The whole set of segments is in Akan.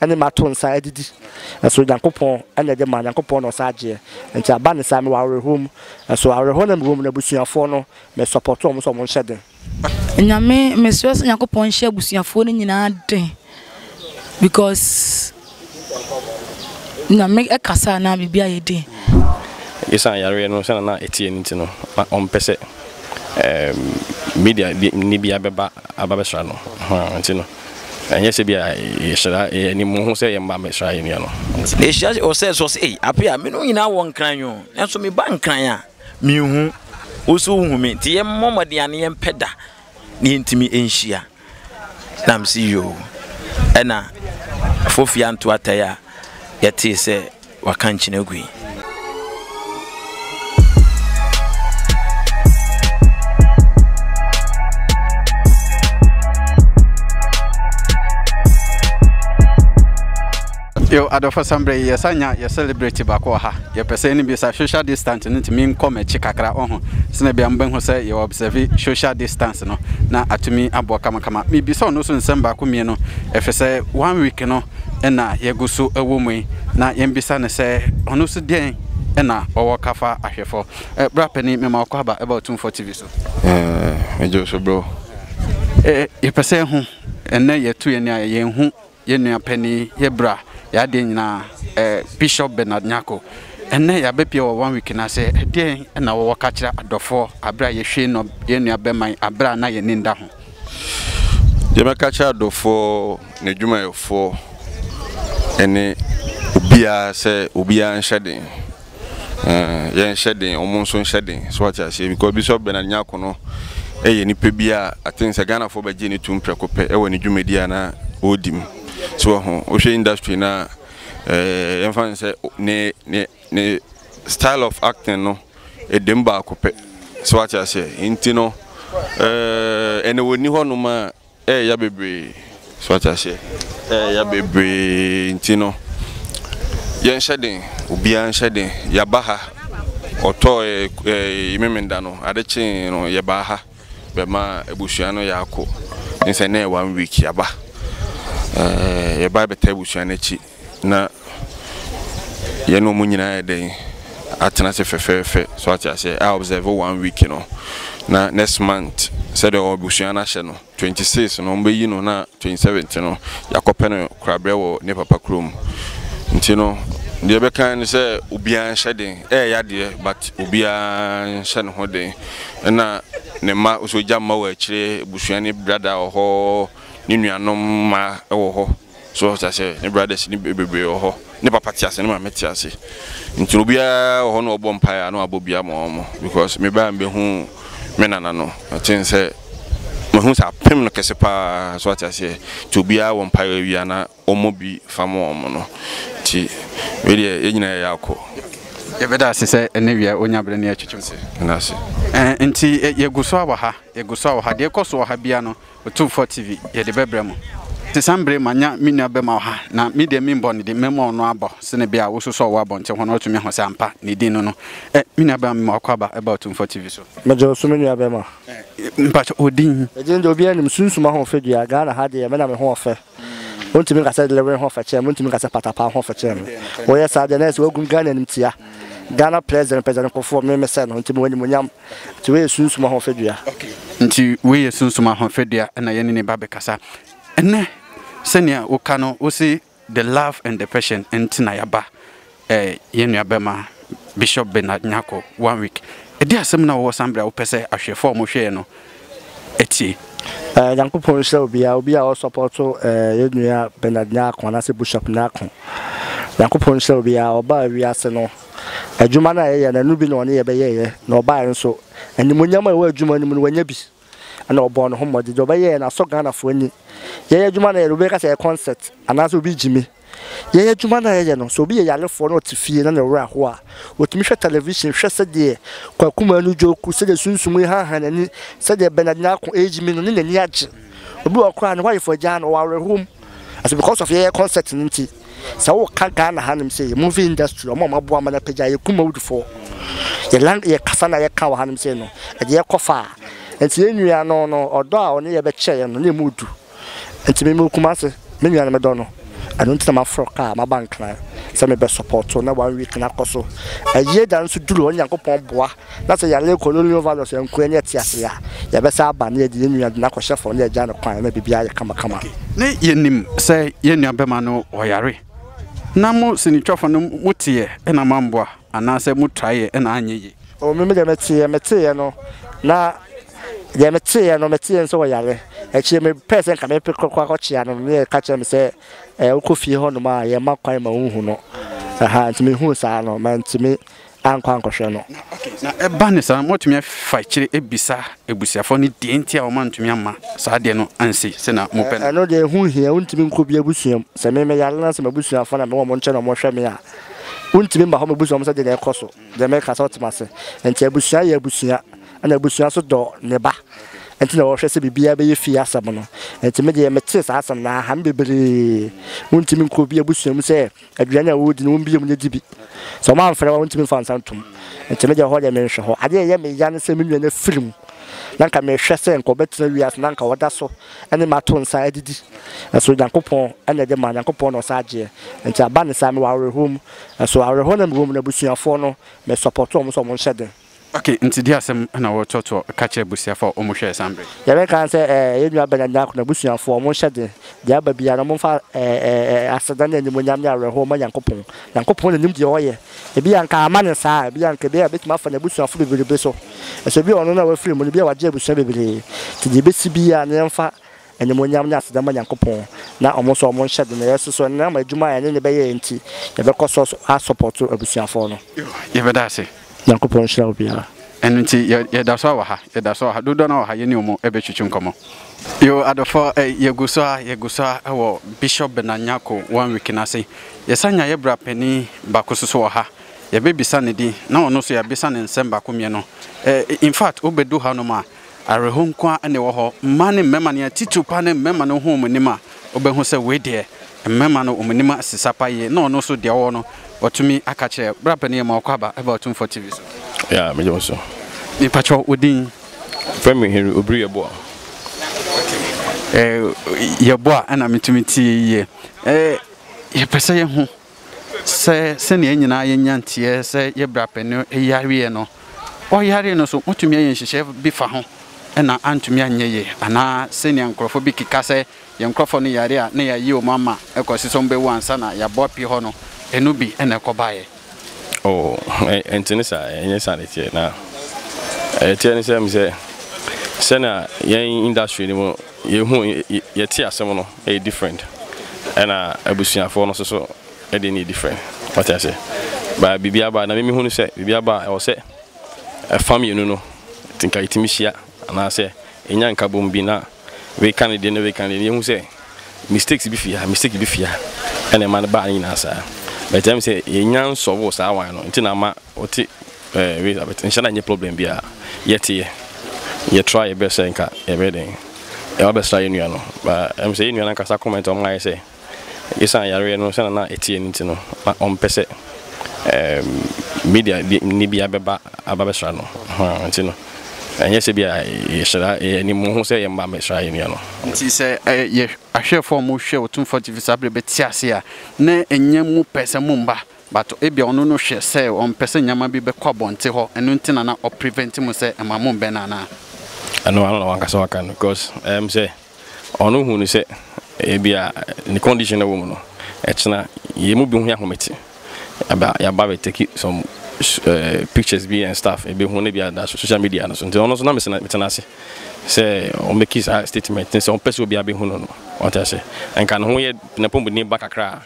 Ɛne mato nsa adidi. Nso Nyankopɔn na ɛde ma, Nyankopɔn na ɔsan agyeɛ. Nti aba no saa, mewɔ awerɛhoɔ mu. Nso awerɛhoɔ no a mewɔ mu no, abusuafoɔ no, me support wɔn sɛ wɔn nhyɛ den. Nyame, mesrɛ sɛ Nyankopɔn nhyɛ abusuafoɔ no nyinaa den, because Nyame ɛkasa a na biribi ayɛ den. Esiane yareɛ no sɛnea na ɛteɛ no nti no, na ɔmpɛ sɛ media ni biara bɛba abɛsra no, nti no. Ɛnyɛ sɛ ebia yɛhyira yɛn ani mu hu sɛ yɛn mma mmɛsra yɛn nuanom. Ehyira wɔ sɛ so ɔse, Ei, Apea, a menom nyinaa wɔ Nkran o, nanso meba Nkran a, minhu wo so wohu me. Nti yɛmmɔ mmɔden a na yɛmpɛ da na yɛntumi nhyia. Na mese, Yoo. Ɛna Afofia Ntoa Taya a yɛtee sɛ Waka nkyene agu yi. yo adɔfo sambrɛ yi yɛsa nya yɛ celebrate baako wɔ ha yɛpɛ sɛ ne bi sa social distance no ntumi nkɔ m'akyi kakra ɔho sɛnɛ bia mobɛhu sɛ yɛ observe social distance no na atumi aboɔ kamakama mebisa ɔno so nsɛm baako mmienu ɛfiri sɛ one week no na yɛgu so wɔ mu yi, na yɛmmisa no sɛ, ɔno nso deɛn na ɔwɔ ka fa ahwɛfoɔ? Eh, bra panin, mema ɔkɔ aba ɛba Otumfoɔ TV so. Eh, ɛgye so bro. Eh, yɛpɛ sɛ ho, ɛnɛ yɛtu yɛn a yɛn ho yɛn nua panin, yɛ bra, yɛ adeɛ nyinaa, eh, Bishop Bernard Nyarko. Ɛnɛ yɛabɛpie wɔ one week no ase, ɛdeɛn na wɔwɔ ka kyerɛ adɔfoɔ aberɛ a yɛhwee nɔ yɛn nua bɛman aberɛ a na yɛn ani nda ho? Deɛ mɛka kyerɛ adɔfoɔ n'adwumayɛfoɔ ne obiara sɛ obiara nhyɛ den yɛnhyɛ den wɔn nso nhyɛ den so wate aseɛ because Bishop Bernard Nyako no yɛ nipa bi a I think sɛ Ghanafoɔ bɛgye ne tum prɛko pɛ wɔ ne dwumadi a na ɔredi mu so wɔ ho wohwɛ industry no a yɛmfa no sɛ ne ne Ne style of acting no edem baako pɛ so wate aseɛ nti no ɛɛ ɛna wɔni hɔ nom a ɛɛya bebree so wate aseɛ ɛɛya bebree nti no yɛnhyɛ den obiara nhyɛ den yaba ha ɔtɔ ɛɛ ɛɛ memenda no ade kyee no yɛbaa ha bɛma abusua no yɛako nsɛ ne one week yaba ɛɛ yɛba bɛta abusua no akyi. Na yɛne wɔn nyinaa ayɛ dɛn atena ase fɛfɛɛfɛ so ate aseɛ a observe one week no na next month sɛdeɛ wɔn abusua no ahyɛ no twenty six no wɔn bɛyi no na twenty seventh no yɛakɔpɛ no korabrɛ wɔ ne papa kurom nti no deɛ bɛka ne sɛ obiara nhyɛ den ɛyɛ yadeɛ but obiara nhyɛ ne ho den ɛna ne mma nso gya mma wɔ akyire abusua ne brada wɔ hɔ ne nuanom mma wɔ hɔ. So wate aseɛ? Ne brothers no bebree wɔ hɔ. Ne papa te ase, ne maame te ase. Nti no obiara wɔ hɔ na ɔbɔ mpaeɛ a na wabɔ bi ama wɔn. Because me baa mbɛhu me nana no, mete sɛ mahu sɛ apem no kɛse paa. So wate aseɛ? Nti obiara wɔ mpaeɛ awia na ɔmmɔ bi fa ma wɔn no. Nti wei deɛ yɛn nyinaa yɛyɛ akɔ. Yɛbɛda ase sɛ ɛnɛ wia wonya berɛ na yɛtwetwe nkɔmmɔ. Nti yɛgu so a wɔ ha, yɛgu so a wɔ ha. Deɛ ɛkɔ so wɔ ha biara no, Otumfoɔ TV, yɛde bɛbrɛ mo. Te saa mbre manya me nua bɛma ɔha, na me deɛ menbɔ ne din, mɛma ɔno abɔ, sene bia wo so sɛ ɔwɔ abɔnten hɔ no watumi ahu sɛ ampa ne din no no. Eh, me nua bɛma mema wako aba ɛba Otumfoɔ TV so. Megye wo so me nua bɛma. Eh, mpakyɛ wo din? Me din deɛ obiara nim, Sunsum Ahofadua, Ghana ha deɛ me na me ho ɔfɛ. Wontumi nka sɛ Lewe ho ɔfɛ kyɛn me, wontumi nka sɛ Patapaa ho ɔfɛ kyɛn me. Woyɛ saa deɛ na ayɛ sɛ wagum Ghana animtia. Ghana President, President Kufuor, me mesɛ no, nti mewɔ animuonyam. Nti wei yɛ sunsum ahofadua. Nti wei yɛ sunsum ahofadua na yɛne ne ba bɛkasa ɛnnɛ. Sɛnea woka no, wose the love and the passion nti na yɛaba eh, yɛn nuabɛma Bishop Bernard Nyarko, one week. Ɛde asɛm no a wowɔ san berɛ a wopɛ sɛ ahwɛfoɔ a wɔhwɛɛ no tie. Eh, Nyankopɔn nhyira obiara, obiara a ɔsɔpɔto eh, yɛn nua Bernard Nyarko anaasɛ Bishop Nyarko. Nyankopɔn nhyira obiara, ɔbaa wiase no, Adwuma no a yɛyɛ no, ɛno bi na ɔne yɛn bɛyɛeɛ, na ɔbaeɛ nso, animuonyam a ɛwɔ adwuma no mu no, wanya bi. Ɛnna ɔbɔɔ ne ho mmɔden. Deɛ ɔbɛyɛeɛ no, asɔ Ghanafoɔ ani. Yɛn adwuma no a yɛyɛ no, obi bɛka sɛ ɛyɛ kɔnsɛt, anaasɛ obi regye me. Yɛn adwuma no a yɛyɛ no, sɛ obi yɛ yarefoɔ na ɔte fie na ne werɛ ahow a, ɔtumi hwɛ television hwɛ sɛdeɛ Kwaku Manu Dwoku, sɛdeɛ Sunsum rehanha n'ani, sɛdeɛ Bernard Nyarko regye me no, ne n'ani agye. Obi wɔ hɔ koraa a, ne ho ayefo agyaa no, ɔwɔ awerɛhoɔ mu. Ɛsɛ because of yɛyɛ kɔnsɛt no nti. Sɛ wo ka Ghana ha nom sɛ yɛ movie industry ɔmo a ɔmo aboa ma no apagya yɛ kumawd foɔ yɛ lang yɛ kasa na yɛ ka wɔ ha nom sɛ no ɛde yɛ kɔ faa nti yɛ nua no no ɔdɔ a ɔne yɛ bɛ kyɛ yɛ no na ɛmu du nti me me wɔ Kumasi me nua no me dɔ no ɛno nti na ma frɔ kaa ma ba nkran sɛ me bɛ support na one week na kɔ so ɛyɛ da nso duru hɔ Nyankopɔn boa. na sɛ yɛannyɛ colonial values anku annya te ase a, yɛbɛsan aba na yɛde yɛn nua de no akɔhyɛ fam na yɛagya no kwan na biribiara ayɛ kamakama. Ne yɛnim sɛ yɛn nuabɛma no ɔyare, na mo sinitwafo no moteeɛ na moamboa, anaasɛ motraeɛ na anyɛ yie? O, me, me deɛ meteeɛ, meteeɛ no, na deɛ meteeɛ no, meteeɛ no sɛ ɔyare. Akyire mepɛɛ sɛ nka mepe kɔkɔ akɔkyea no, ne yɛka kyerɛɛ me sɛ, Ɛɛ, wokɔ fie hɔnom a, yɛmma kwan ma wonhu no. Aha, nti mehuu saa no, mantumi. ankɔ ankɔhwɛ no. Na okay, na ɛba ne saa no, moatumi afa akyire abisa abusuafoɔ no deɛ nti a wɔn antumi amma saa adeɛ no ansi sɛnea mopɛ no? Ɛno deɛ ɛho nhia, wontumi nkɔ obi abusua mu. Sɛ me meyare na sɛ m'abusuafoɔ na mewɔ wɔn nkyɛn na wɔhwɛ me a, wontumi mma hɔ mmɛbusa wɔn sɛ deɛ na ɛkɔ so. Deɛ mereka sɛ wote me ase? Nti abusua yɛ abusua, ɛna abusua nso dɔ ne ba, nti na wɔhwɛ sɛ biribiara bɛyɛ fie asɛm no. Nti me deɛ metee saa asɛm no, aha me bebree. Wontumi nkɔ obi abusua mu sɛ. Aduane a wɔredi no, wombue mu na di bi. Sɛ wɔamfrɛ wo a, wontumi mfa nsa ntom. Enti me deɛ, ɛhɔ deɛ menhwɛ hɔ. Adeɛ a ɛyɛ me ya ne sɛ me nua no afiri mu, na anka mehwɛ sɛ anka ɔbɛtena wiase na anka ɔda so ne me ato nsa adidi. Nanso Onyankopɔn na ɛde ma, Onyankopɔn na ɔsa gyeɛ. Enti aba no saa, mewɔ awerɛhoɔ mu. Nanso awerɛhoɔ no a mewɔ mu no, abusuafoɔ no, mesɔpɔto wɔn sɛ wɔnhyɛ den. Ok, nti deɛ asɛm na wo toɔtoɔ ka kyerɛ abusuafoɔ a wɔn hwɛɛ san bere. Yɛbɛ kan sɛ ɛɛ yɛn nua Bernard Nyarko n'abusuafoɔ wɔn nhyɛ den, deɛ aba biara no wɔn nfa ɛɛ ɛɛ aseda ne animuonyam ne awerɛhoɔ mma Nyankopɔn. Nyankopɔn na nim deɛ ɔyɛ. Ebia anka ama no saa, ebia anka ebia ebetumi afa n'abusuafoɔ bebrebe so. Nso ebia ɔno na wafiri mu no ebia wagye abusua bebree. Nti deɛ ebesi biara no yɛn nfa Animuonyam ne aseda mma Nyankopɔn na ɔmo nso ɔmo nhyɛ den na yɛso so ɛnam adwuma a yɛne no bɛyɛ nti yɛbɛkɔ so a sɔpɔto abusuafɔɔ no. Yɛbɛda ase. Nyankopɔn nhyira wo biara. Ɛno nti yɛ yɛdaso ara wɔ ha yɛda so wɔ ha dodoɔ no ara wɔ ha yɛne ɔmo ɛbɛtwitwi nkɔmɔ. Yoo adɔfoɔ ɛ yɛgu so ara yɛgu so ara wɔ Bishop Bernard Nyarko one week no ase yɛsan nya yɛ bra panin baako nso so wɔ ha yɛbɛbisa ne din na ɔno nso yɛabisa no nsɛm baako mmienu ɛ infact wobɛdu ha nom a Awerɛhow nko ara na ɛwɔ hɔ. Mmaa ne mmarima, nea titiriw paa ne mmarima no huu wɔn anim a, wobehu sɛ wei deɛ, mmarima no wɔn anim asesa paa yie, na ɔno nso deɛ ɔwɔ no, watumi aka akyerɛ. Bra panin, yɛma wo kwaaba ba Otumfoɔ TV so. Yeah, mede wo so. Mepakyɛw, wo din? Wɔfrɛ me Henry Obiri Yeboah. Okay. Eh, Yeboah na metumi tie yie. Eh, yɛpɛ sɛ yɛhu. Sɛ sɛnea yɛn nyinaa yɛn nya nteɛ sɛ yɛn bra pɛ no yareɛ no, ɔyaree no nso wɔtumi ayɛ nhyehyɛɛ bi fa ho na antumi anyɛ yie anaa sɛnea nkorɔfoɔ bi keka sɛ yɛn nkorɔfoɔ no yare a na yɛayi wɔn ama kɔsi sɛ wɔn bɛwu ansa na yɛabɔ apue hɔ no ɛno bi na ɛkɔbaeɛ. Oh, ɛnte ne saa, ɛnyɛ saa na ɛteɛ, na ɛteɛ ne sɛ, menim sɛ sɛnea yɛn industry no mu. Yɛhu yɛte asɛm no ɛyɛ different ɛna abusuafoɔ no nso so ɛdeɛ no yɛ different wate aseɛ but biribi aba na mimi hu no sɛ biribi aba a ɛwɔ sɛ ɛfa mmienu no nti nka yɛtumi hyia anaasɛ ɛnya nkabom bi na wei ka ne deɛ na wei ka ne deɛ yɛhu sɛ mistakes bi fia mistake bi fia ɛna ɛma no baa ne nyinaa saa but ɛm sɛ yɛnya nsɔbo saa wan no nti na ama ɔte Eh Elizabeth nhyɛ na nyɛ problem bi a yɛte yɛ yɛ try yɛ best sɛ nka yɛbɛyɛ dɛn yɛba bɛsra yɛ nua no ba ɛm sɛ yɛ nua no ankasa comment ɔmo ayɛ sɛ esan yareɛ no sɛ na na ɛte yɛ no nti no na ɔmpɛ sɛ ɛɛm media ne bi abɛba aba bɛsra no hɔn nti no ɛnyɛ sɛ bi a yɛhyɛda yɛ ne mu ho sɛ yɛmba mɛsra yɛ nua no. Nti sɛ yɛ ahwɛfoɔ a ɔmo hwɛ Otumfoɔ TV saa berɛ bɛte ase a na ɛnyɛ mo pɛ sɛ momba But ebia ɔno no hwɛ sɛ ɔmpɛ sɛ nneɛma bi bɛkɔ abɔnte hɔ ɛno nti na na ɔ prevent mo sɛ ɛma mo mbɛ no anaa? Ɛno ano na wankasa waka no cos ɛyɛ me sɛ ɔno hu no sɛ ebia ne condition na ɛwɔ mu no ɛkyena yɛn mu bi ho yɛ ahomete aba yaba bɛ take some pictures bi and stuff ebe hu na bi ada so social media no so nti ɔno nso na me tena ase sɛ ɔ make saa statement no sɛ ɔmpɛ sɛ obiara bɛ hu no no ɔte ase nka ne ho yɛ ne pɔmuden ba kakra a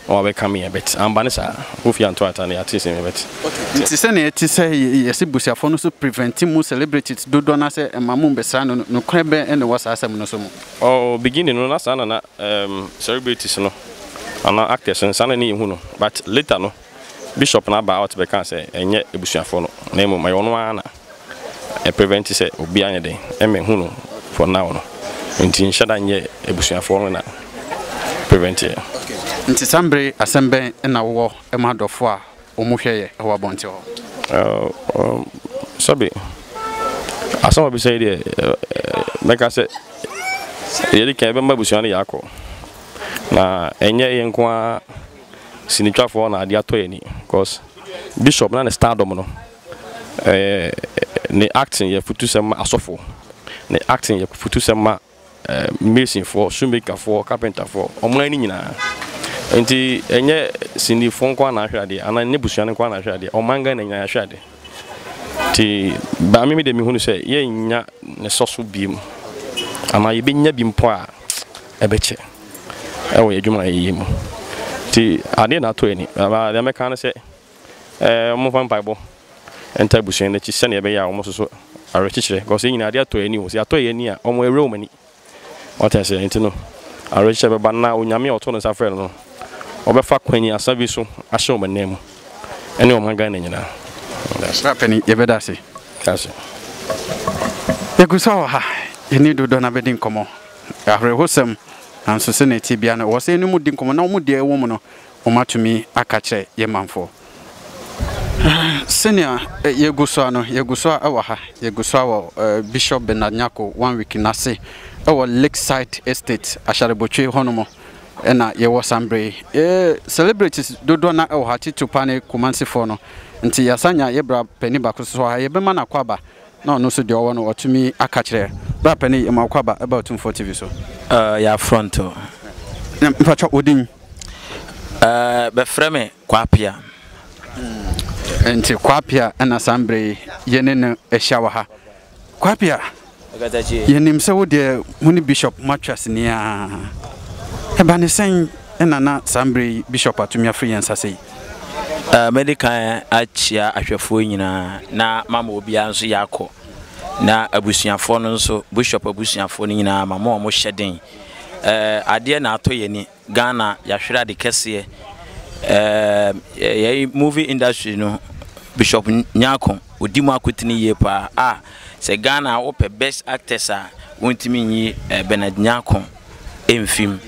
na wabɛka me yɛ but amba ne saa Kofi anto ata na yɛate sɛ me but Okay, nti sɛnea ɛte sɛ yɛse busuafoɔ no so prevent mo celebrities dodoɔ no asɛ ɛmma mo mbɛsra no no, nokorɛ bɛn na ɛwɔ saa asɛm no so mu? Oh beginning no na saa na na celebrities no anaa actors no saa na na yɛhu no but later no, Bishop no abaa ɔte bɛkaa sɛ ɛnyɛ abusuafoɔ no na mmom ɛyɛ ɔno ara na ɛ prevent sɛ obi anyɛ dɛn mmɛhu no for now no nti nhyɛ da nyɛ abusuafoɔ no na prevent ɛ. Okay nti saa mbere asɛm bɛn na wowɔ ma adɔfoɔ a wɔn hwɛ yɛ wɔ abɔnten hɔ? Ɛɛm sɛbe asɛm a wabisa yi deɛ mɛka sɛ yɛde kan yɛbɛma abusua no yɛ akɔ na ɛnyɛ yɛn nko ara. sinitwafoɔ na adeɛ atɔ yɛn ani cos bishop na ne stardom no ɛɛ ne acting yɛ futusɛm ma asɔfoɔ ne acting yɛ futusɛm ma ɛɛ masonfoɔ shoemakerfoɔ carpenterfoɔ ɔman no nyinaa nti ɛnyɛ sinifoɔ nko ara na ahwɛ adeɛ anaa ɛnyɛ busua no nko ara na ahwɛ adeɛ ɔman Ghana nyinaa ahwɛ adeɛ nti baame mi de mi hunu sɛ yɛnnya ne sɔ so biem anaa yɛbɛnya bi mpo a ɛbɛkyɛ wɔ yɛn adwumayɛ yi mu. Nti adeɛ na atɔ ani. Deɛ mɛka ne sɛ, wɔmfa mpaebɔ ntaa abusua no akyi sɛdeɛ ɛbɛyɛ a wɔn nso so awerɛkyekyerɛ because yɛn nyinaa adeɛ atɔ yɛn ani o. Sɛ atɔ yɛn ani a, wɔn awura wɔn ani. Wate aseɛ? Nti no, awerɛkyekyerɛ bɛba na Onyame a ɔtoo ne nsa frɛɛ no no, ɔbɛfa kwanyiasa bi so ahyɛ wɔn anan mu ɛne ɔman Ghana nyinaa. Bra panin, yɛbɛda ase. Yɛgu so wɔ ha, yɛne Dodo Nabedi nkɔmmɔ. Awerɛhosɛm, nanso sɛnea ɛte biara no, ɛwɔ sɛ yɛne wɔn di nkɔmmɔ na wɔn deɛ ɛwɔ mu no, wɔatumi aka akyerɛ yɛn manfoɔ. Sɛnea yɛgu so ara no, yɛgu so ara wɔ ha, yɛgu so ara wɔ Bishop Bernard Nyarko One Week no ase wɔ Lakeside Estate, Asharebotwe hɔnom na yɛwɔ saa mmerɛ yi. Yɛn celebrities dodoɔ no ara wɔ ha, titiriw pa ara ne Kumansifoɔ no. Nti yɛasan anya yɛn bra panin baako nso wɔ ha, yɛbɛma no akwaaba Na ɔno nso deɛ ɔwɔ no ɔtumi aka kyerɛ. Bra pɛ ne yɛma wo kwaba ɛba Otumfoɔ TV so. Ɛɛ yɛ afront o. Na mpakyɛw wo din? Ɛɛ bɛfrɛ me Kwaa Pia. Hmm, nti Kwaa Pia ɛna saa mbrɛ yi yɛ ne no ahyia wɔ ha. Kwaa Pia, yɛnim sɛ wo deɛ mo ne Bishop mo atwa sini aa. Ɛba ne sɛn ɛna na saa mbrɛ yi Bishop atumi afiri yɛn nsa sɛi? Mɛdi kan akyia ahwɛfoɔ nyinaa na mama obiara nso yɛ akɔ na abusuafoɔ no nso bishop abusuafoɔ no nyinaa ma mo a mo hyɛ den ɛɛ adeɛ na atɔ yɛn ni Ghana yɛahwere ade kɛseɛ ɛɛ yɛn movie industry no bishop nyako odi mu akotene yie paa a sɛ Ghana wopɛ best actors a wontumi nyi eh, Bernard nyako. mfim.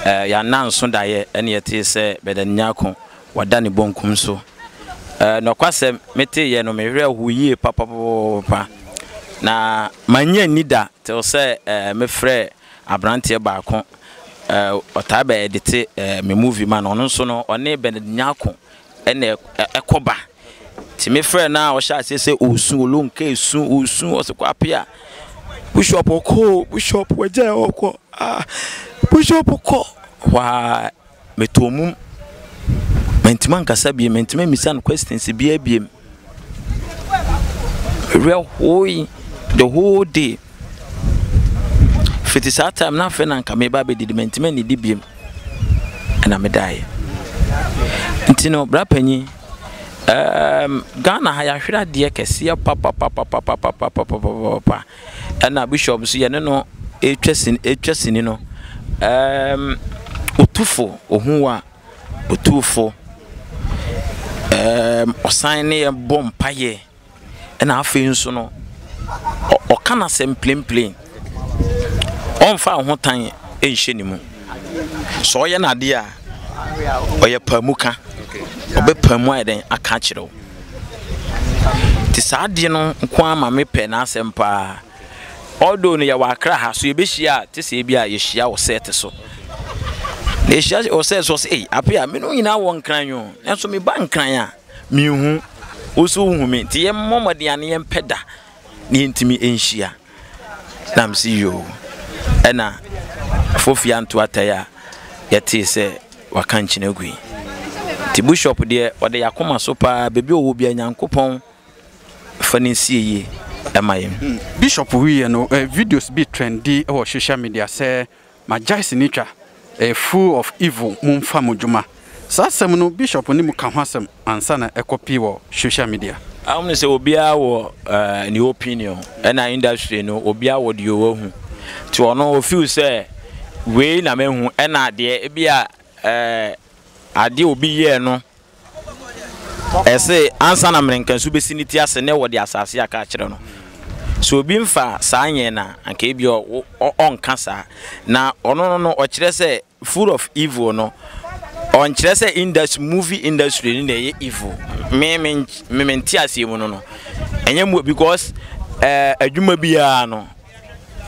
Eh, yɛananso daeɛ ɛne yɛtee sɛ Bɛdan Nyarko wada ne bonkum so. Eh, nɔkwasɛm, meteeɛ no mewerɛ ho yie papapapapa na mannye anni da tew sɛ eh, mefrɛɛ aberanteɛ baako eh, ɔtaa bɛɛdete eh, me movie ma no, ɔno nso no ɔne Bɛdan Nyarko Ɛna ɛkɔ ba. Nti me frɛɛ no a ɔhyɛ aseɛ sɛ ɔresu, ɔlom ka ɛsu, ɔresu, ɔse kɔ apea. Bishop ɔkɔ o, bishop wagyae a ɔkɔ, ah, bishop kɔ. Waa, metɔɔ mum. Mantumi ankasa biem, mantumi ammisa no questions biaa biem. Werɛ hooee the whole day. Fiti saa time no afei na anka meba abɛdidi, mantumi annidi biom. Ɛna medaeɛ. Nti no, bra panyin, um, Ghana ha yɛahwere adeɛ kɛseɛ papapapapapapapapapapa. Ɛna bishop nso yɛne no ɛtwa sini, ɛtwa sini no, um, ɔtufo, ɔhu wo a, Otumfo, ɛɛm, ɔsan ne yɛn bɔ mpaeɛ, ɛna afei nso no, ɔka n'asɛm plenplen. Ɔmfa ahotan nhyɛ ne mu. Sɛ ɔyɛ n'adeɛ a, ɔyɛ paamuka. Ɔbɛpaamu ayɛ dɛn aka akyerɛ wo. Nti saa adeɛ no nko ara ma mepɛ n'asɛm paa. Although no yɛwɔ Accra ha so yɛbɛhyia a te sɛ ebia yɛhyia wɔ set so na yɛhyia wɔ set so ɔsɛ ei ape a me no nyinaa wɔ nkran o nanso meba nkran a menhu wo so wohu me nti yɛmmɔ mmɔden a ne yɛmpɛ da na yɛntumi nhyia na mese yoo ɛna fofia nto atae a yɛtee sɛ waka nkyene agu yi nti bushop deɛ ɔde yɛakoma so paa baabi ɔwɔ bia nyankopɔn Fa no nsie yie ma yɛn. Bishop wiiɛ no videos bi trendi wɔ social media sɛ magyae sinitwa ɛyɛ full of evil monfa mo dwuma saa asɛm no bishop ne mu ka ho asɛm ansa na ɛkɔ pii wɔ social media. Wonim sɛ obiara wɔ ne opinion ɛna industry no obiara wɔ deɛ ɔhu nti ɔno ɔ feel sɛ wei na mahu ɛna deɛ ebia adeɛ obi yɛɛ no Ɛse, ansa na mmerenkansu besi ne ti ase ne wɔde asase aka akyerɛ no. Sɛ obi mfa saa nyɛɛ no a, anka ebia ɔ, ɔnka saa. Na ɔno no no, ɔkyerɛ sɛ full of evil no, ɔnkyerɛ sɛ industry, movie industry no na ɛyɛ evil. Me, me, me, me nte aseɛ mu no no, ɛnyɛ mu, because ɛɛ eh, adwuma biara no,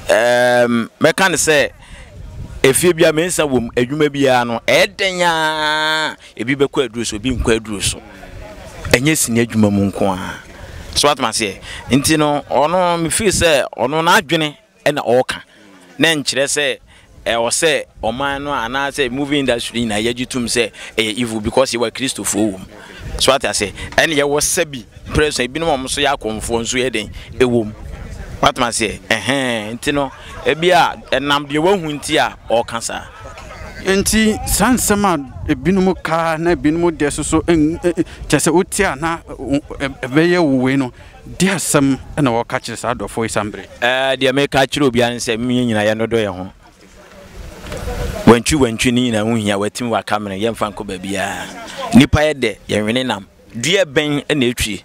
ɛɛ um, mɛka no sɛ efie biara mensa wom, adwuma biara no, ɛyɛ dɛn ara Ebi bɛkɔ aduro so, ebi nkɔ aduro so. Ɛnyɛ sini adwuma mu nko ara. So woate me aseɛ? Nti no, ɔno me feel sɛ ɔno n'adwene na ɔreka na ɛnkyerɛ sɛ ɛwɔ sɛ ɔman no anaasɛ movie industry nyinaa yɛgye tom sɛ ɛyɛ evil because yɛwɔ Akristofoɔ wɔ mu. So woate aseɛ? Ɛne yɛwɔ sɛbi pere so ebinom a wɔn nso yɛ akɔmfoɔ nso yɛ den ɛwɔ mu. Woate me aseɛ? Ɛhɛn, nti no, ebi a ɛnam deɛ wahu nti a ɔreka saa. Enti saa nsɛm a ebinom ka na ebinom de susu kyerɛ sɛ wote a na ɛbɛyɛ wo wei no, de asɛm na wɔka kyerɛ saa adɔfoɔ yi saa mmerɛ yi? Ɛɛ, deɛ meka akyerɛ obiara ne sɛ yɛn nyinaa yɛnnodɔ yɛn ho. Wantwi wantwi ne nyinaa ho hia, watim waka mene yɛmfa nkɔ baabiara. Nnipa yɛ dɛ, yɛnwene nam. Dua bɛn na ɛtwi?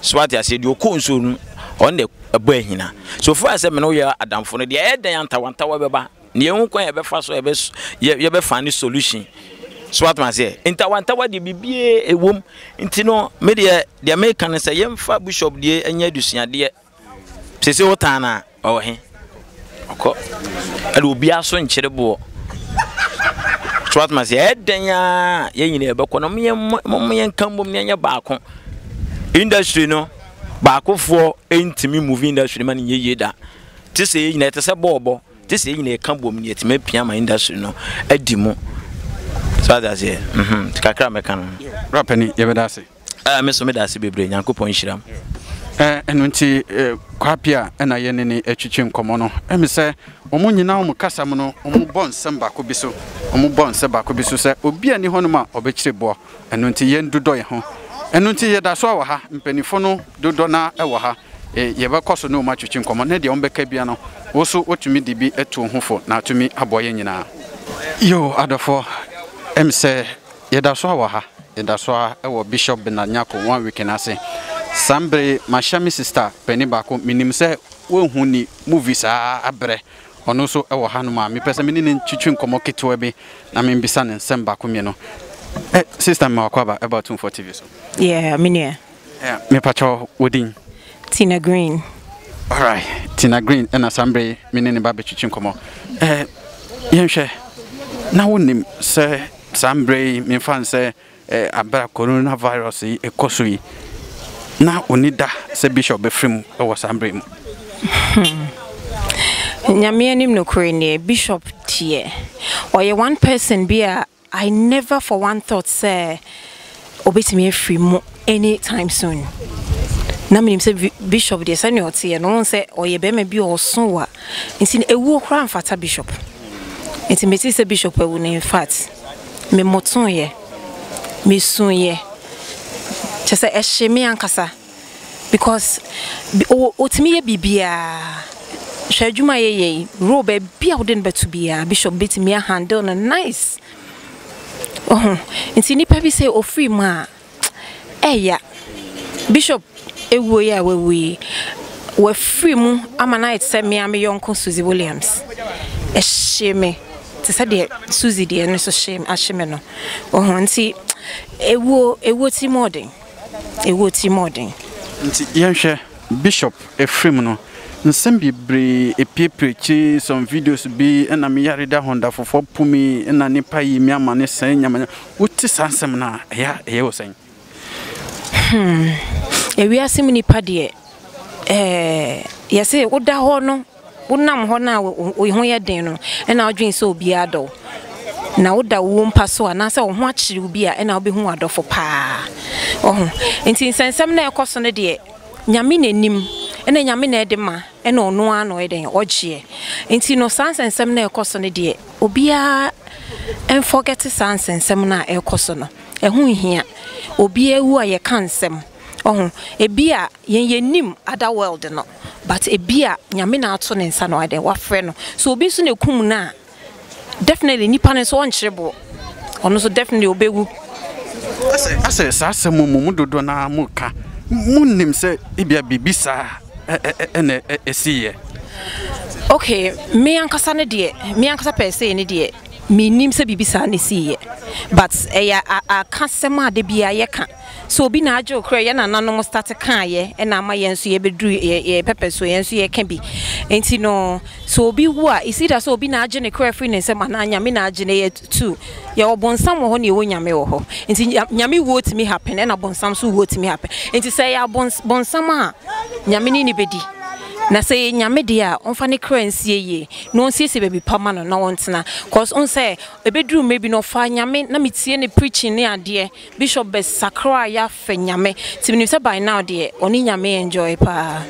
So wate aseɛ? Deɛ ɔkɔ nsuo no, ɔno deɛ ɛbɔ ahina. So fa sɛ mene woyɛ adamfo no deɛ, ɛyɛ dɛn a ntawantawa bɛba? Nea ehu kwan a yɛbɛfa so a yɛbɛ yɛ yɛbɛfa ne solution so atom aseɛ ntawantawa deɛ biribiara ɛwom nti no me deɛ deɛ meka no sɛ yɛmfa bishop deɛ ɛnyɛ adusuadeɛ sese wotan no a ɔwɔ he ɔkɔ ɛde obiara so nkyere boɔ so atom aseɛ ɛdɛn a yɛn nyinaa yɛbɛkɔ no mo yɛnka mmom na yɛnyɛ baako industry no baakofoɔ ntumi movie industry ma no nyɛ yie da te sɛ yɛ nyinaa ɛte sɛ bɔɔbɔ Gye sɛ yɛn nyinaa ka bom na yɛatumi apia ama industry no adi mu. So ate aseɛ? Mhm. Nti kakra a mɛka no. Bra panin, yɛbɛda ase. Ah, me so meda ase bebree. Nyankopɔn nhyira mo. Eh, ɛno nti eh, Kwape a ɛna yɛ ne ne atwitwi nkɔmmɔ no, ɛmi sɛ wɔn nyinaa wɔn kasa mu no, wɔn bɔ nsɛm baako bi so, wɔn bɔ nsɛ baako bi so sɛ obi a ni hɔnom a ɔbɛkyerɛ boɔ. Ɛno nti yɛn dodɔ yɛn ho. Ɛno nti yɛda so wɔ ha. Mpaninfo no dodɔ no ara wɔ ha. Yɛbɛkɔ so ne wɔn atwetwe nkɔmmɔ, na deɛ wɔbɛka biara no, wo nso wotumi de bi to wo ho fo na atumi aboa yɛn nyinaa. Yiw, adɔfoɔ, ɛm sɛ yɛda so ara wɔ ha. Yɛda so ara wɔ Bishop Bernard Nyarko Wanwick no ase. Saa mberɛ yi, mahyɛ me sista panin baako, menim sɛ wonhu ne movie saa abrɛ. Ɔno nso wɔ hanom a mepɛ sɛ me ne no ntwitwi nkɔmmɔ ketewa bi na membisa no nsɛm baako mmienu. Ɛ, sista mema w'akɔ aba ɛba Otumfoɔ TV so. Yeah, me nua. Ɛ, mepakyɛ wo, wo din? Tina Green. Alright, Tina Green ɛna saa mmerɛ yi me ne no reba abɛtwitwi nkɔmmɔ. Ɛ, yɛnhwɛ, na wonim sɛ saa mmerɛ yi memfa no sɛ Aber a coronavirus yi rekɔ so yi, nna onnyi da sɛ bishop bɛfrɛ mu wɔ saa mber yi mu. Hmm. Nyame anim nokorɛ nie, bishop deɛ, ɔyɛ one person bi a I never for one thought sɛ ɔbɛtumi afiri mu any time soon. Na menim sɛ bishop deɛ sɛnea ɔteɛ no, wohu sɛ ɔyɛ bɛrima bi a ɔso wa. Nti no, ɛwuo koraa mfata bishop. Nti metee sɛ bishop awu no, in fact. memotoeɛ, mesuiɛ, kyerɛ sɛ ɛhyee me ankasa because ɔtumi yɛ biribiara, hwɛ adwuma a yɛyɛ yi, role baabi a wode no bɛto biara Bishop bɛtumi a handle no nice, wohu, nti nnipa bi sɛ ɔfiri mu a. Ɛya, Bishop awuo yi a wawu yi, wafiri mu ama no ayɛ te sɛ me ara me yɔnko Suzy Williams. Ɛhyee me te sɛ deɛ Suzy deɛ no nso hyee ahye me no. Wohu nti awuo awuo tiri mu ɔden. Awuo tiri mu ɔden. Nti yɛnhwɛ Bishop afiri mu no, nsɛm bebree apiepire akyire yi, some videos bi na me yare da ho da foforɔ pumii na nnipa yii me amane sɛɛ nyama nyama. wote saa nsɛm no a, ɛyɛ a ɛyɛ wo sɛn? Hmm, ewiase mu nipa deɛ, ɛɛ yɛse woda hɔ no, wonam hɔ no a wo ho yɛ den no, ɛna wodwen sɛ obiara dɔ wo. Na woda wo mpa so anaasɛ wo ho akyere obi a, ɛna wobɛhu w'adɔfo paa. Ɔho, nti nsɛnsɛm no a ɛkɔ so no deɛ, Nyame na nim, ɛna Nyame na ɛde ma, ɛna ɔno ara na ɔyɛ dɛn, ɔgyeɛ. Nti no saa nsɛnsɛm no a ɛkɔ so no deɛ, obiara nfɔgɛte saa nsɛnsɛm no a ɛrekɔ so no, ɛho nhia obi awu a yɛka nsɛm, ɔho, ebia yɛn yɛnim other world no but ebia Nyame na ato ne nsa na wayɛdɛn wafrɛ no, so obi nso na ɛkum no a definitely nipa no nso ɔnkyere boɔ, ɔno nso definitely ɔbɛwu. Asɛ saa asɛm mo mu dodoɔ no ara moka, monnim sɛ ebia biribi saa. na ɛsiiɛ? Ok, me ankasa no deɛ, me ankasa pɛɛsee no deɛ, mennim sɛ biribi saa na ɛsiiɛ. But ɛyɛ akasɛm a da biara yɛka sɛ obi na agye wo kra, yɛn nananom starte kaeɛ ɛna ama yɛn nso yɛbɛduru yɛn pɛpɛ so, yɛn nso yɛka bi. Nti no, sɛ obi wu a, it's either sɛ obi na agye ne kra firi ne nsam anaa Nyame na agye no. Two, yɛwɔ bonsam wɔ hɔ na yɛwɔ Nyame wɔ hɔ. Nti Nyame wuo tumi happen ɛna bonsam so wuo tumi happen. Nti sɛ ɛyɛ abons bonsam a Nyame ne no bɛdi. Na sɛ ɛyɛ Nyame deɛ a ɔmfa ne kra nsie yie na ɔnsiesie baabi pa ma no na ɔntena. Cause wohu sɛ ɛbɛduru mmerɛ bi no ɔfaa Nyame na metie ne preaching ne adeɛ, Bishop bɛsakraa yɛ fɛ nyame nti menim sɛ by now deɛ ɔne nyame enjoy paa.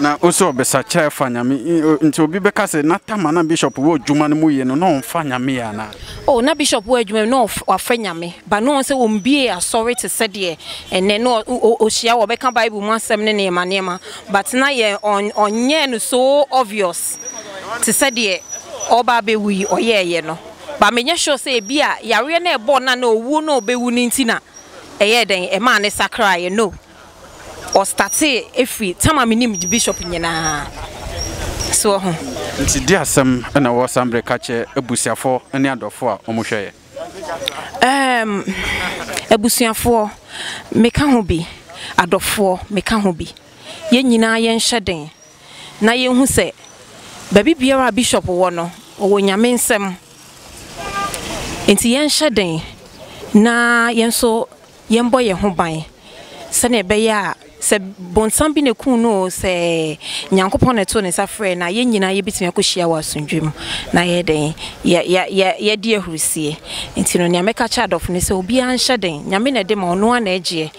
Na ose ɔbesa kyɛ fa nyame nti obi bɛka sɛ na tama na bishop wɔ dwuma no mu yie no na ɔnfa nyame yɛ anaa. Oh na bishop wɔ adwuma mu na wafa nyame ba na ɔnsɛ ɔmbiee asɔre te sɛ deɛ ɛnɛ na ɔhyia wɔbɛka bible mu asɛm ne nneɛma nneɛma but na yɛ ɔnyɛɛ no so obvious te sɛ deɛ ɔba abɛwu yi ɔyɛɛyɛ no ba menyɛ sure sɛ ebi a yareɛ na ɛbɔɔ na na owuo na ɔbɛwu no nti na ɛyɛɛ dɛn ɛmaa ne sakraeɛ no ɔstatee ɛfiri tam a menim de bishop nyinaa so wɔ ho. Nti deɛ asɛm na wɔ saa mbrɛ ka kyɛ abusuafoɔ ne adɔfoɔ a wɔn hwɛ yɛ. Ɛɛm abusuafoɔ me ka ho bi adɔfoɔ me ka ho bi yɛn nyinaa yɛn hyɛ den na yɛn hu sɛ baabi biara a bishop wɔ no ɔwɔ nyame nsɛm. Enti yɛnhyɛ den na yɛn nso yɛmmɔ yɛn ho ban sɛnea ɛbɛyɛ a sɛ bonsam bi na ekum no oo, sɛ Nyankopɔn na ɛtoo ne nsa frɛɛ no a, yɛn nyinaa yɛbɛtumi akɔhyia wɔ asomdwoe mu na yɛyɛ dɛn? Yɛ, yɛ, yɛ, yɛadi ahurisie. Enti no, nea mɛka akyerɛ adɔfo no sɛ, obiara nhyɛ den. Nyame na ɛde ma, ɔno ara na ɛgyeɛ.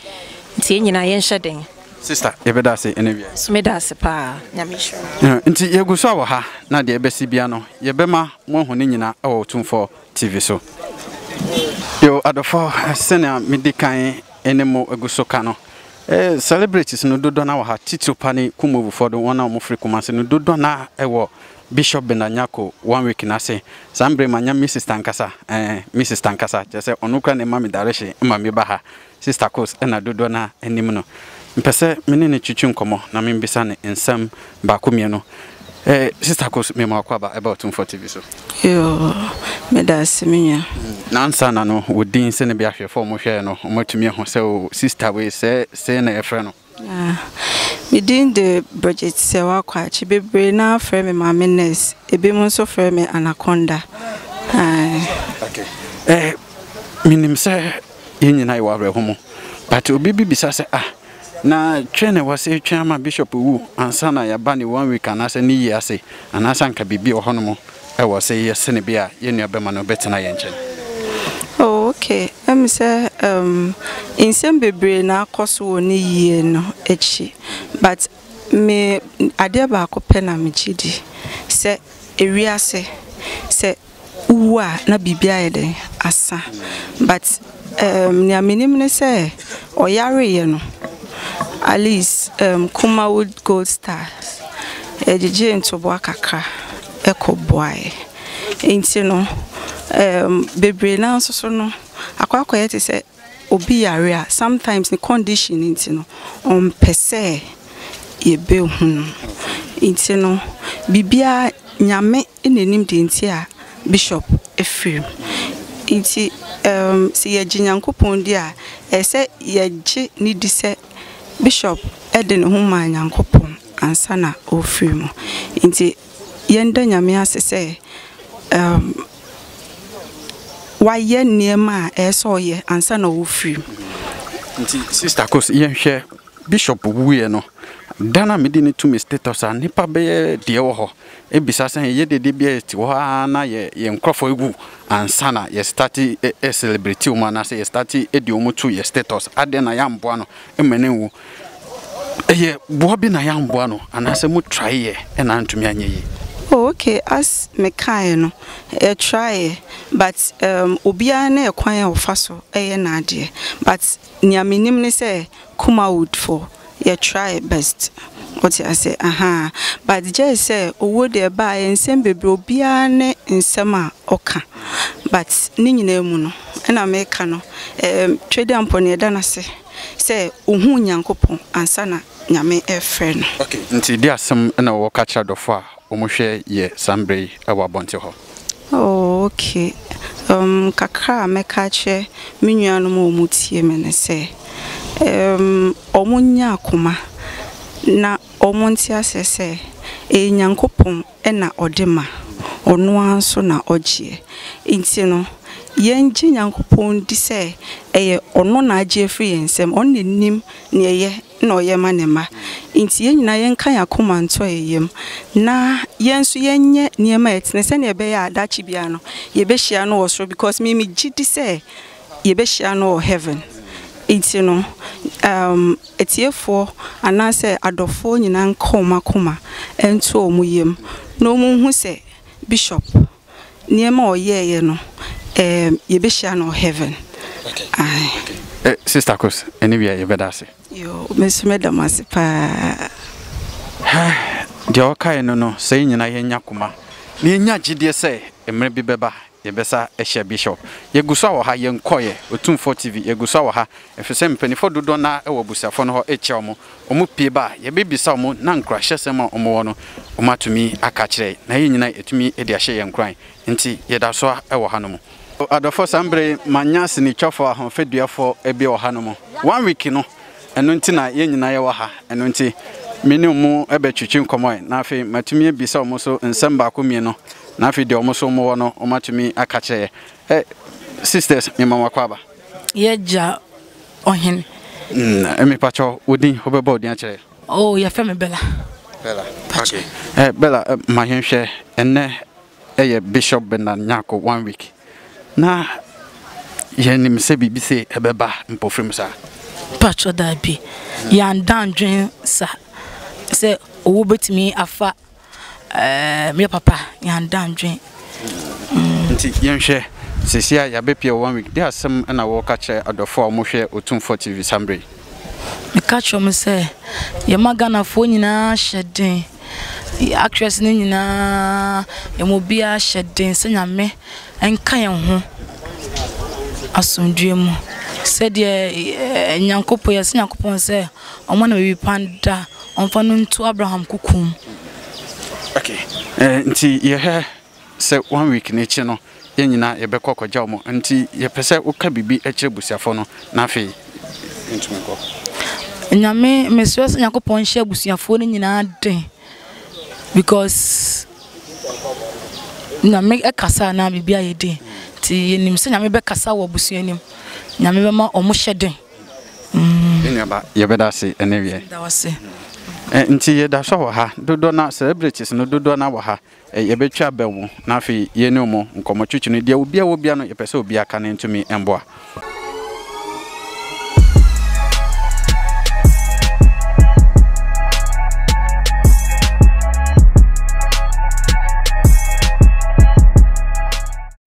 Enti yɛn nyinaa yɛnhyɛ den. Sister, yɛbɛda ase ɛna wia yi. So meda ase paa, Nyame nhyira wo. Nti yɛgu so a wɔ ha, na deɛ ɛbɛsi bia no, yɛbɛma mo ahu ne nyina wɔ Otumfoɔ TV so. Yo, adɔfɔ, sɛnea medi kan ne mo gu so ka no, celebrities no dodɔ no ara wɔ ha, titiriw pa ne Kumawufoɔ do, wɔn a wɔn firi Kumasi no, dodɔ no ara wɔ Bishop Bernard Nyarko one week no ase. Saa mberɛ yi manya me sister ankasa, ɛɛn, me sister ankasa, kyerɛ sɛ ɔno koraa na ɛma me direction ma meba ha. Sista Coles na dodoɔ no ara nim no. Mepɛ sɛ me ne no twitwi nkɔmmɔ na membisa no nsɛm baako mmienu. Eh, Sista Coles, mema w'akɔ aba ɛba Otumfoɔ TV so. Yoo, meda ase me nua. Na ansa na no, wo din sɛ no bi ahwɛfoɔ a wɔhwɛɛ no, wɔatumi ahu sɛ o, sista wei, sɛɛ, sei na yɛfrɛ no. Na me din de Bridget Sewa Kwakye. Bebree no ara frɛ me Maame Nurse. Ebinom nso frɛ me Anaconda. Ae. Menim sɛ yɛn nyinaa yɛwɔ awerɛho mu. But obi bi bisa sɛ, Ah, na twɛn na wɔse twɛn ama Bishop wu ansa na yɛaba ne one week anaasɛ ne yie ase, anaasɛ anka biribi wɔ hɔnom? Ɛwɔ sɛ yɛyɛ sɛnea ɛbɛyɛ a yɛn nuabarima no bɛtena yɛn nkyɛn. Oh, okay. Ɛmi sɛ um, nsɛm bebree na akɔ so wɔ ne yie no akyi. But me adeɛ baako pɛ na megye di sɛ ewiase sɛ wowu a na biribiara ayɛ dɛn? Asa. But Ɛɛm, nea menim ne sɛ ɔyareeɛ no, Alice ɛɛm, Kumawood Gold Stars gyegyee ntoboa kakra kɔboaeɛ. Enti no, ɛɛm, bebree no ara nso so no, akɔ akɔyɛ te sɛ obi yare a, sometimes ne condition nti no, ɔmpɛ sɛ yɛbɛhu no. Enti no, biribiara Nyame Ɛna ɛnim deɛ nti a bishop firim. Nti um, sɛ yɛgye Nyankopɔn di a, ɛyɛ sɛ yɛgye ne di sɛ bishop de ne ho maa Nyankopɔn ansa na ɔrefiri mu. Nti yɛnda Nyame ase sɛ um, wayɛ nneɛma a ɛyɛ sɛ ɔyɛ ansa na ɔrefiri mu. Nti sister kos yɛnhwɛ bishop wuiɛ no da no a mede no tu me status a nnipa bɛyɛ deɛ wɔ hɔ bisa sɛ yɛyɛ dede bi a yɛte hɔ ara na yɛ yɛn nkurɔfoɔ awu ansa na yɛ start celebrate wɔn anaasɛ yɛ start de wɔn to yɛ status adɛn na yɛamboa no ma no anwu ɛyɛ boa bi na yɛamboa no anaasɛ mo try yɛ ɛna antumi anyɛ yie Oh, okay, as me kaeɛ no, yɛ try but um, obiara ne ɛkwan a ɔfa so ɛyɛ n'adeɛ but Nea menim ne sɛ Kumawood fo yɛ try best wote aseɛ ahaa but gyɛɛ sɛ owuo deɛ ɛbaeɛ nsɛm bebree obiara ne nsɛm a ɔka but ne nyinaa mu no ɛna meka no ɛɛm Twedeampɔ no yɛda no ase sɛ ohuu Nyankopɔn ansa na Nyame ɛrefrɛ no. Okay nti deɛ asɛm ɛna wɔka kyerɛ adɔfoɔ a wɔn hwɛ yɛ saa mmerɛ yi wɔ abɔnten hɔ? Oh ok, um kakra a mɛka akyerɛ me nuanom a wɔn tie me ne sɛ, um wɔn nyɛ akoma na wɔn nte aseɛ sɛ ɛyɛ Nyankopɔn na ɔde ma, ɔno ara nso na ɔgyeɛ. Nti no yɛn gye Nyankopɔn di sɛ ɛyɛ ɔno na agye afiri yɛn nsam, ɔno na nim deɛ ɛyɛ na ɔyɛ ma ne mma. Enti yɛn nyinaa yɛnka yɛn akoma nto yɛn yam, na yɛn nso yɛnyɛ nneɛma a ɛtene sɛnea ɛbɛyɛ a daakye biara no, yɛbɛhyia no wɔ soro because me megye di sɛ yɛbɛhyia no wɔ heaven. Enti no, um, atiefoɔ anaasɛ adɔfoɔ nyinaa nka wɔn akoma nto wɔn yam na wɔnhu sɛ Bishop Nneɛma a ɔyɛeɛ no ɛɛm yɛbɛhyia no wɔ heaven ae. Sister Kos ɛne wia yɛbɛda ase. Yoo me nso mɛda mo ase paa. Hɛh deɛ ɔkae no no sɛ yɛn nyinaa yɛnya koma na yɛnya gyedie sɛ mmerɛ bi bɛba yɛbɛsa ahyia Bishop. Yɛgu so a wɔ ha yɛnkɔeɛ, Otumfoɔ TV yɛgu so a wɔ ha ɛfiri sɛ mpaninfoɔ dodoɔ no ara wɔ abusuafoɔ no hɔ rekyia wɔn wɔpue ba a, yɛbɛbisa wɔn na nkuranhyɛsɛm a wɔwɔ no, wɔatumi aka akyerɛ yɛn, na yɛn nyinaa yɛatumi de ahyɛ yɛn nkuran. Enti yɛda so ara wɔ hanom. Adɔfoɔ, saa mberɛ yi, manya asenitwafoɔ ahofadua-foɔ bi wɔ hanom. One week no, ɛno nti na yɛn nyinaa yɛwɔ ha. Ɛno nti, me ne wɔn bɛtwetwe nkɔmmɔ ɛ, na afei matumi abisa wɔn nso nsɛm baako mmienu, na afei deɛ wɔn nso wɔwɔ no, wɔatumi aka akyerɛ yɛn. Ɛ, sisters, mema mo akwaaba. Y'agya ɔhene. Mm, me pacho, wo din, wo bɛbɔ wo din akyerɛ. Oh, yɛfrɛ me Bella. Bella, okay. Eh, Bella, eh, ma yɛnhwɛ, ɛnɛ ɛyɛ Bishop Bernard Nyarko one week. Na yɛnim sɛ biribi se ɛbɛba mpofirim saa. Pacho daabi, yɛanda ndwen sa sɛ owu betumi afa ɛɛ meyɛ papa yɛanda adwene. Mm. Nti yɛnhwɛ sisi a yɛabɛpia one week de asɛm na wɔka kyerɛ adɔfo a wɔhwɛ Otumfoɔ TV saa mmerɛ yi. Meka kyerɛ wɔn sɛ yɛma Ghanafoɔ nyinaa hyɛ den actress no nyinaa yɛn obiara hyɛ den sɛ nyame nka yɛn ho asomdue mu sɛdeɛ eh, nyankopɔn yɛsɛ nyankopɔn sɛ ɔmma no baabi pa da, ɔmfa no nto Abraham koko mu. Okay, eh, nti yɛhwɛ sɛ one week no akyi no, yɛn nyinaa yɛbɛkɔ akɔgya wɔn. Nti yɛpɛ sɛ woka biribi kyerɛ busuafoɔ no na afei yɛntumi nkɔ. Nyame, mesrɛ sɛ Nyankopɔn nhyɛ abusuafoɔ no nyinaa den because Nyame ɛkasa na biribi ayɛ den. Nti yɛnim sɛ Nyame bɛkasa wɔ abusua no mu. Nyame bɛma wɔn hyɛ den. Me nua ba, yɛbɛda ase ɛnnɛ wiɛ. Yɛda wo ase. Ɛ, nti yɛda so wɔ ha. Dodoɔ no ara, celebrities no, dodoɔ no ara wɔ ha. Ɛ, yɛbɛtwa abɛn wɔn, na afei yɛn ne wɔn nkɔmmɔ twitwi no. Deɛ obiara wɔ biara no, yɛpɛ sɛ obiara ka ne ntumi mboa.